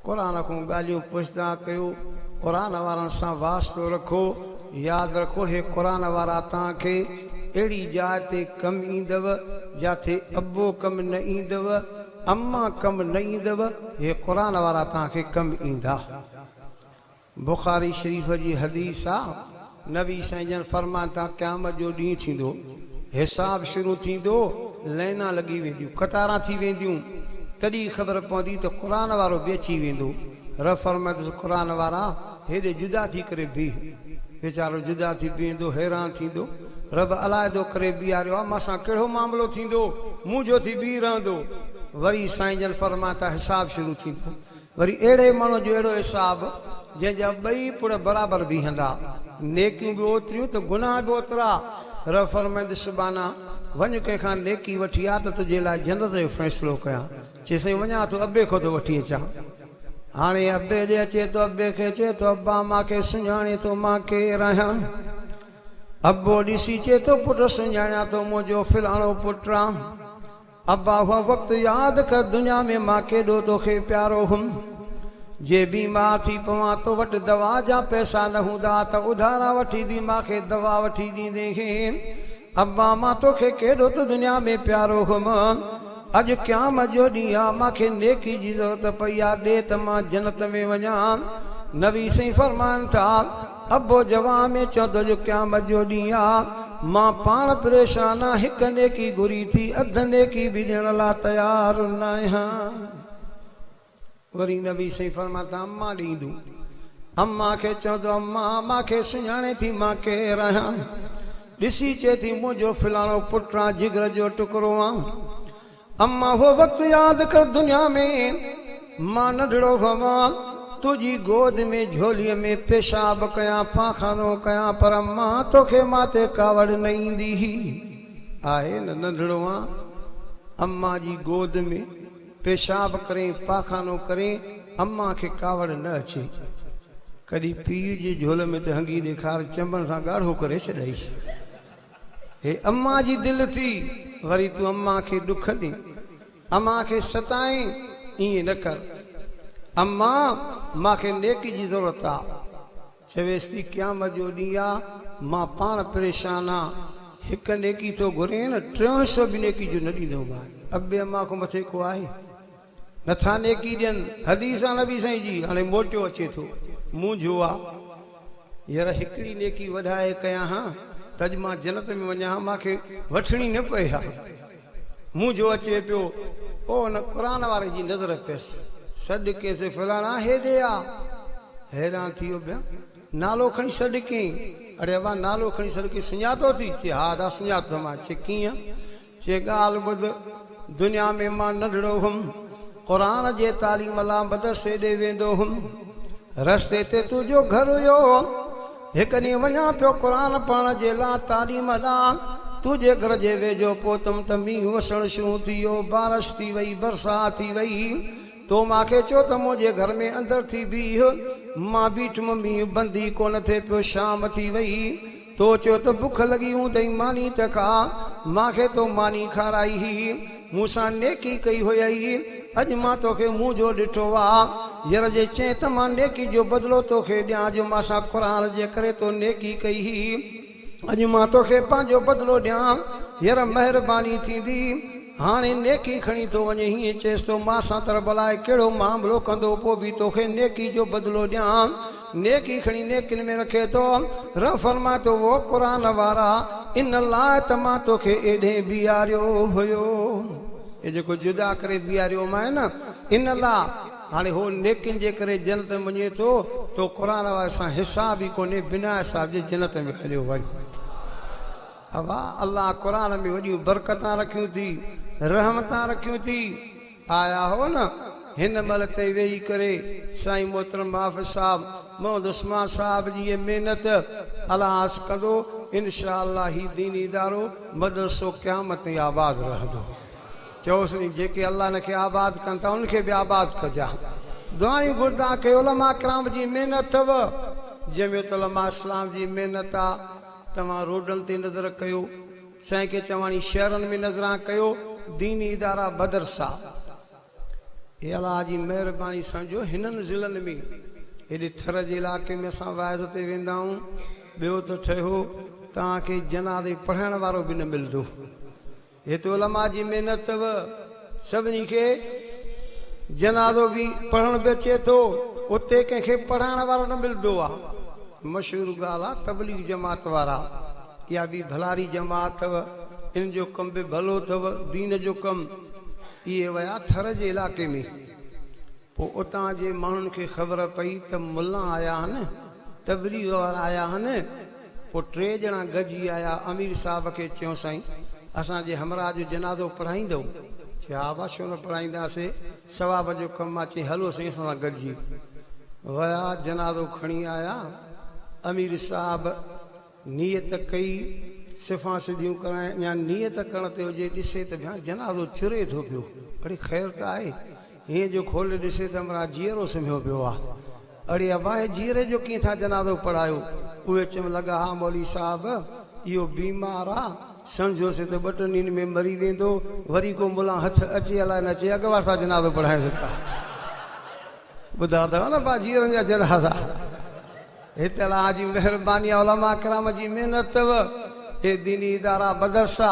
قرآن کان ڳالهيون پڇندا ڪيو، قرآن وارن سان واسطو رکو، ياد رکو هي قرآن وارا توهان کي اهڙي جاء تي ڪم ايندو جاٿي ابو ڪم نه ايندو، اما ڪم نه ايندو، هي قرآن وارا توهان کي ڪم ايندا. بخاري شريف جي حديث آ، نبي سائين جن فرمايو ته قيامت جو ڏينهن ٿيندو، حساب شروع ٿيندو، لائينا لڳي وينديون، قطاران ٿي وينديون، تڏهن خبر پوندي ته قرآن وارو به اچي ويندو، رب فرمائيندس قرآن وارا هيڏي جدا ٿي ڪري بيهه، ويچارو جدا ٿي بيهندو، حيران ٿيندو، رب علائحدو ڪري بيهاريو آ، مون سان ڪهڙو معاملو ٿيندو، منهنجو ٿي بيهي رهندو، وري سائين جن فرمايو ته حساب شروع ٿيندو. وري اهڙي ماڻهو جو اهڙو حساب، جنهن جا ٻئي پڙ برابر بيهندا. نيڪيون به اوتريون ته گناهه به اوترا. رب فرمائيندس سبحانه! وڃ ڪنهن کان نيڪي وٺي آ ته تنهنجي لاء جنت جو فيصلو ڪيان. چي سائين وڃان ٿو ابي کان ٿو وٺي اچان. هاڻي ابي ڏي اچي ٿو ابي کي چي ٿو ابا مان کي سڃاڻين ٿو مان ڪير آهيان؟ ابو ڏسي چي ٿو پٽ سڃاڻيان ٿو منهنجو فلاڻو پٽ آن. ابا اهو وقت ياد ڪر دنيا ۾ مان ڪيڏو توکي پيارو هئم جي بيمار ٿي پوان تو وٽ دوا جا پئسا نه هوندا ها ته اڌارا وٺي به مان کي دوا وٺي ڏيندين هين ابا مان توکي ڪيڏو ته دنيا ۾ پيارو هئم اڄ قيامت جو ڏينهن آ مان کي نيڪي جي ضرورت پئي آ ڏي ته مان جنت ۾ وڃان نبي سائين فرمائن ٿا. ابو جواب ۾ چيو ته اڄ قيامت جو ڏينهن آ، مان پاڻ پريشان آ، هڪ نيڪي گهري ٿي، اڌ نيڪي به ڏيڻ لا تيار ناهيان. وري نبي صلعم فرمايو ته اما ڏي ايندو. اما کي چيو ته اما مان کي سڃاڻين ٿي مان ڪير آهيان؟ ڏسي چئي ٿي منهنجو فلاڻو پٽ آ، جگر جو ٽڪرو آ. امان هو وقت ياد ڪر دنيا ۾ مان ننڍڙو هئوان تنهنجي گود ۾ جهولي ۾ پيشاب ڪيان پاخانو ڪيان پر امان توکي ماتي ڪاوڙ نه ايندي هئي آهي نه ننڍڙو آن امان جي گود ۾ پيشاب ڪرين پاخانو ڪرين امان کي ڪاوڙ نه اچي ڪڏهن پيء جي جهولي ۾ ته هنگي ڏيکار چنبن سان ڳاڙهو ڪري ڇڏئي. هي امان جي دل ٿي، وري تون امان کي ڏک ڏين، امان کي ستائين، ائين نه ڪر. امان! مان کي نيڪي جي ضرورت آ. چويس ٿي، قيامت جو ڏينهن آ، مان پاڻ پريشان آ، هڪ نيڪي ٿو گهرين، ٽيون حصو به نيڪي جو نه ڏيندومانء. ابي امان کان مٿي ڪو آهي؟ نٿا نيڪي ڏين حديث آ نبي سائين جي هاڻي موٽيو اچي ٿو مونجهو آ ير هڪڙي نيڪي وڌائي ڪيان ها ته اڄ مان جنت ۾ وڃان ها مان کي وٺڻي نه پئي ها مونجهو اچي پيو او ان قرآن واري جي نظر پيس سڏ ڪين سي فلاڻا هيڏي آ حيران ٿي ويو بيان نالو کڻي سڏ ڪين اڙي ابا نالو کڻي سڏ ڪين سڃاتو ٿي چي ها ادا سڃاتو ٿم آ چي ڪيئن چي ڳالهه ٻڌ، دنيا ۾ مان ننڍڙو هئم، قرآن جي تعليم لا مدرسي ڏي ويندو هئم. رستي تي تو جو گهر هيو، هڪ ڏينهن وڃان پيو قرآن پڙهڻ جي لا تعليم لا، تو جي گهر جي ويجهو پهتم ته مينهن وسڻ شروع ٿي ويو، بارش ٿي وئي، برسات ٿي وئي، تو مان کي چيو ته منهنجي گهر ۾ اندر ٿي بيهه، مان بيٺم مينهن بند ئي ڪونه ٿي پيو، شام ٿي وئي. تو چيو ته بک لڳي هوندئي ماني ته کا، مان کي تو ماني کارائي هئي، مون سان نيڪي ڪئي هيئي، اڄ مان توکي منهن جو ڏٺو آ. ير جي چين ته مان نيڪي جو بدلو توکي ڏيان جو مان سان قرآن جي ڪري تو نيڪي ڪئي هئي، اڄ مان توکي پنهنجو بدلو ڏيان، ير مهرباني ٿيندي هاڻي نيڪي کڻي ٿو وڃ هيئن چيس تو مان سان تربلاء ڪهڙو معاملو ڪندو پوء به توکي نيڪي جو بدلو ڏيان. نيڪي کڻي نيڪين ۾ رکي ٿو. رب فرمائي ٿو، وو قرآن وارا! ان لاء ته مان توکي ايڏهين بيهاريو هيو. اي جيڪو جدا ڪري بيهاريومانء نه، ان لاء، هاڻي هو نيڪين جي ڪري جنت ۾ وڃي ٿو، تو قرآن واري سان حساب ئي ڪونهي، بنا حساب جي جنت ۾ هليو وڃ. اوهان الله قرآن ۾ وڏيون برڪتان رکيون ٿي، رحمتان رکيون ٿي. آيا هئو نه هن مهل تائين ويهي ڪري سائين محترم محافظ صاحب محمد عثمان صاحب جي هيء محنت الهاس ڪندو انشاء الله هي ديني ادارو مدرسو قيامت تائين آباد رهندو چئو سائين جيڪي الله هن کي آباد ڪن ٿا انهن کي به آباد ڪجاء دعائيون گهرندان ڪي علماء ڪرام جي محنت اٿو جمعيت علماء اسلام جي محنت آ توهان روڊن تي نظر ڪيو سائين کي چواڻي شهرن ۾ نظران ڪيو ديني ادارا بدرسا اي الله جي مهرباني سان جو هنن ضلعن ۾ هيڏي ٿر جي علائقي ۾ اسان واعظ تي ويندا آهون ٻيو ته ٺهيو توهان کي جنازي پڙهائڻ وارو به نه ملندو هت علماء جي محنت سڀني کي جنازو به پڙهڻ به اچي ٿو، اتي ڪنهن کي پڙهائڻ وارو نه ملندو آ. مشهور ڳالهه آ تبليغ جماعت وارا اها به ڀلاري جماعت اٿو، انهن جو ڪم به ڀلو اٿو، دين جو ڪم. اهي ويا ٿر جي علائقي ۾. پوء اتان جي ماڻهن کي خبر پئي ته ملا آيا آهن، تبليغ وارا آيا آهن. پوء ٽي ڄڻا گڏجي آيا، امير صاحب کي چيو سائين! اسان جي همراهه جو جنازو پڙهائيندؤ؟ چي ها ڀاء ڇو نه پڙهائينداسين، ثواب جو ڪم آهي. چيائين هلو سائين اسان سان گڏجي. ويا جنازو کڻي آيا، امير صاحب. نيت ڪئي، صفان سڌيون ڪرائين يا نيت ڪرڻ تي هجي، ڏسي ته ڀيان جنازو چري ٿو پيو، اڙي خير ته آهي، هينئن جو کولي ڏسي ته همراهه جيئرو سمهيو پيو آ، اڙي ابا هي جيئري جو ڪيئن ٿا جنازو پڙهايو، اهي چيم لڳا ها مولوي صاحب اهو بيمار آ، سمجهيوسين ته ٻه ٽن ڏينهن ۾ مري ويندو، وري ڪو ملان هٿ اچي الاء نه اچي اڳ وارسان جنازو پڙهائينس ٿا. ٻڌا ته نه پا جيئرن جا جنازا هت الله جي مهرباني آ علماء ڪرام جي محنت اٿئو هي ديني ادارا مدرسا.